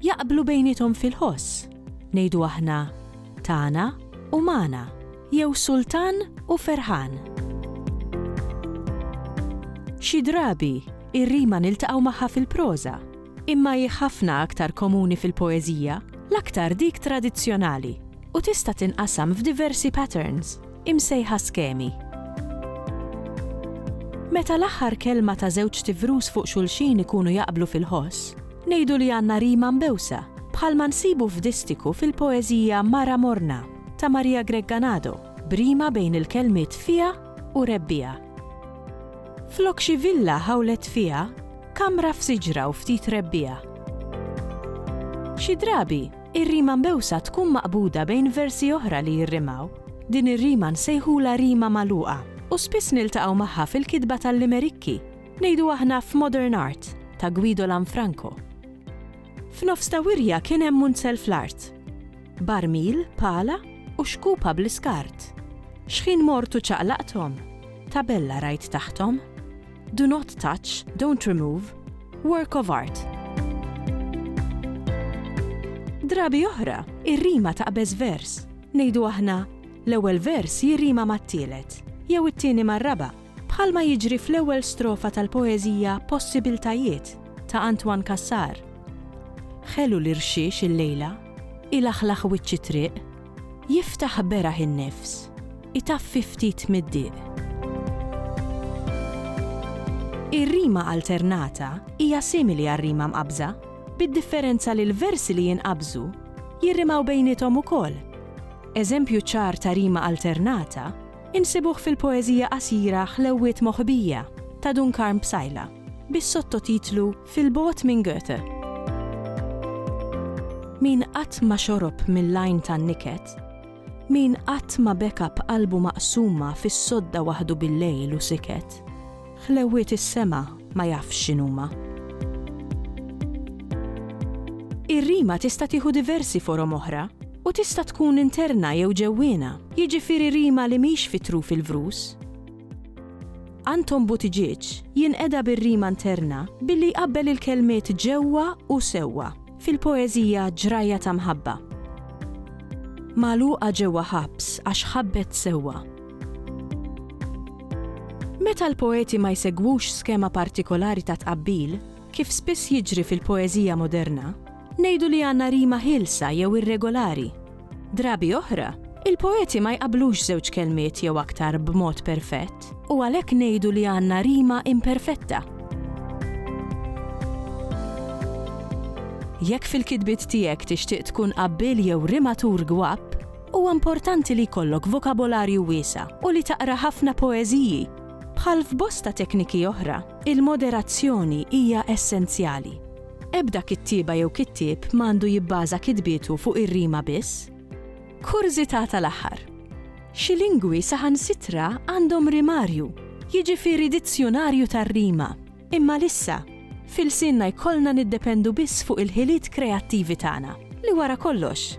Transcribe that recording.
Jaqblu bejniethom fil-ħoss, ngħidu aħna, tagħna u magħna, jew sultan u ferħan. Xi drabi, ir-rima niltaqgħu magħha fil-proża, imma hi ħafna aktar komuni fil-poeżija, l-aktar dik tradizzjonali, u tista' tinqasam f'diversi patterns. imsejħa skemi. Meta l-aħħar kelma ta' żewġ tivrus fuq xulxin ikunu jaqblu fil-ħoss, ngħidu li għandna rima mbewsa, bħalma nsibu f'distiku fil-poeżija Mara Morna ta' Maria Gregganado, b'rima bejn il-kelmiet fiha u rebbiegħa. Flok xi villa ħawlet fiha, kamra f'siġra u ftit rebbiegħa. Xi drabi, Ir-rima mbewsa tkun maqbuda bejn versi oħra li jirrimaw. Din ir-rima nsejħulha rima magħluqa u spiss niltaqgħu magħha fil-kitba tal-limerikki, ngħidu aħna f'modern art, ta' Guido Lanfranco. F'nofs ta' wirja kien hemm munzel fl-art. Barmil, pala u xkupa bl-iskart. Xħin mort u ċaqlaqthom, tabella rajt taħthom. Do not touch, don't remove, work of art. Drabi oħra, ir-rima taqbeż vers. Ngħidu aħna, l-ewwel vers jirrima mat-tielet, jew it-tieni mar-raba', bħalma jiġri fl-ewwel strofa tal-poeżija Possibiltajiet ta' Antoine Cassar. Ħelu l-irxiex illejla, ilaħlaħ wiċċ it-triq, Jiftaħ beraħ in-nifs, itaffi ftit mid-diq. Ir-rima alternata hija simili għar-rima mqabbża, bid-differenza li l-versi li jinqabżu jirrimaw bejniethom ukoll. Eżempju ċar ta' rima alternata insibuh fil-poeżija qasira Ħlewwiet Moħbija ta' Dun Karm Psaila bis-sottotitlu Fil-bogħod minn Goethe. Min qatt ma xorob mill-għajn tan-niket, min qatt ma beka b'qalbu maqsuma fis-sodda waħdu bil-lejl u siket, ħlewwiet is-sema ma jafx x'inhuma. Ir-rima tista' tieħu diversi forom oħra u tista' tkun interna jew ġewwiena, jiġifieri rima li mhix fi truf il-vrus, Anton Buttigieg jinqeda bir-rima interna billi jqabbel il-kelmiet ġewwa u sewwa fil-poeżija Ġrajja ta' Mħabba. Magħluqa ġewwa ħabs għax ħabbet sewwa. Meta l-poeti ma jsegwux skema partikolari ta' tqabbil, kif spiss jiġri fil-poeżija moderna, Ngħidu li għandna rima ħielsa jew irregolari. Drabi oħra, il-poeti ma jqabblux żewġ kelmiet jew aktar b'mod perfett u għalhekk ngħidu li għandna rima imperfetta. Jekk fil-kitbiet tiegħek tixtieq tkun qabbiel jew rimatur gwapp, huwa importanti li jkollok vokabolarju wiesa' u li taqra ħafna poeżiji. Bħal f'bosta tekniki oħra, il-moderazzjoni hija essenzjali. Ebda kittieba jew kittieb ma għandu jibbaża kitbietu fuq ir-rima biss. Kurżità tal-aħħar. Xi lingwi saħansitra għandhom rimarju, jiġifieri dizzjunarju tar-rima, imma lissa, f'ilsienna jkollna niddependu biss fuq il-ħiliet kreattivi tagħna, li wara kollox,